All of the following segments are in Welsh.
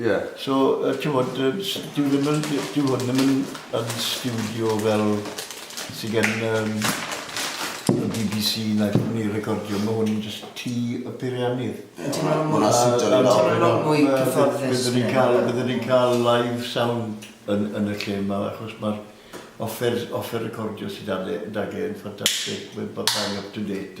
Ie. So yy t'mod yy s- dyw ddim yn d- dyw hwn ddim yn yn stiwdio fel sy gen yym y Bee Bee See na lle ma' nw'n recordio ma' hwn jyst tŷ y peiriannydd. Ie ma' ma' wnna siwtio ni lot mwy nawr. Mwy cyfforddus. Bydden ni'n ca'l bydden ni'n ca'l live sound yn yn y lle 'ma achos ma'r offer offer recordio sy 'da fe 'da fe yn ffantastig ma' ma' ma'n up to date.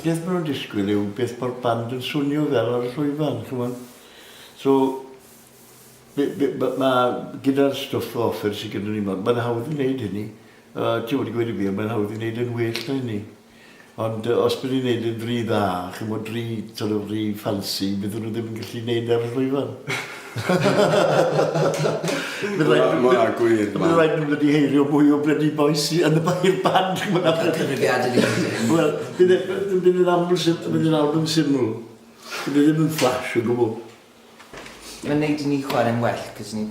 Beth maen nhw'n disgwyl yw beth mae'r band yn swnio fel ar y llwyfan, chymod. So, be- be- ma', ma', gyda'r stwff o offer sy gyda ni 'ma, mae'n hawdd i wneud hynny. A ti'n gwybod, i gweud y gwir, mae'n hawdd i wneud yn well na hynny. Ond os bydd ni'n neud e'n ry dda, ch'mod, ry, sort of, ry ffansi, bydden nhw ddim yn gallu neud e ar y llwyfan. Bydd raid nhw... Mae gwir, Bydd raid nhw wedi heirio mwy o blydi boes i yn y bair band, ch'mod, achos... Cyfrifiadur i chi. Wel, bydd e, bydd e'n aml syml, bydd e'n album syml. Bydd e ddim yn flash o gwbl. Mae'n neud i ni chwarae'n well, cos ni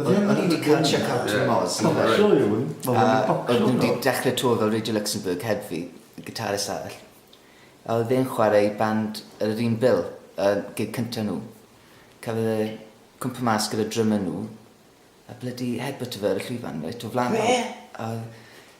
O'n i 'di cael check out o Moz. Wel ma' show yw 'wn. Ma' fe'n bopio ynddo. A odd n'w 'di dechre tour fel Radio Luxembourg heb fi, guitarist arall. A odd e'n chware i band ar yr un bil a gig cynta nhw. Cafodd e cwmpo mas gyda drummer nhw a blydi headbutto fe ar y llwyfan reit o flan bawb. Be? A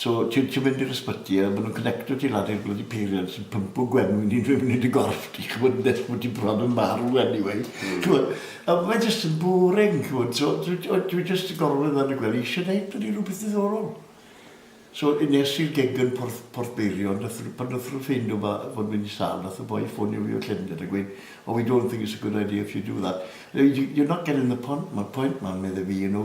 So, ti'n ti mynd i'r ysbyty a maen nhw'n connecto ti lan i'r bloody peiriant sy'n pympo gwenwyn i fyny yn dy gorff di, ch'mod, nes bod ti bron yn marw anyway. Mm. Ch'mod, a mae jyst yn boring, ch'mod, so dwi, o, dwi jyst yn gorwedd lan y gwely eisiau neud bloody rhywbeth ddiddorol. So, nes i'r gig yn Porth, Porth Beirion, nath, pan nath nhw ffeindio ma, fod mynd i sal, nath y boi ffonio fi o Llundain a gweud, oh, we don't think it's a good idea if you do that. You're not getting the point, man, point, man, medde fi, you know,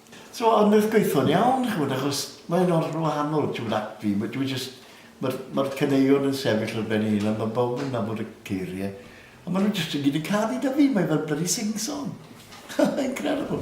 So a wnaeth gweithio'n iawn ch'mod achos mae o'n hollol wahanol t'mod at fi ma' dwi jyst ma'r ma'r caneuon yn sefyll ar ben ei hunan ma' bawb yn nabod y geirie a ma' nw jyst i gyd yn canu 'da fi mae fel blydi sing song. Incredible.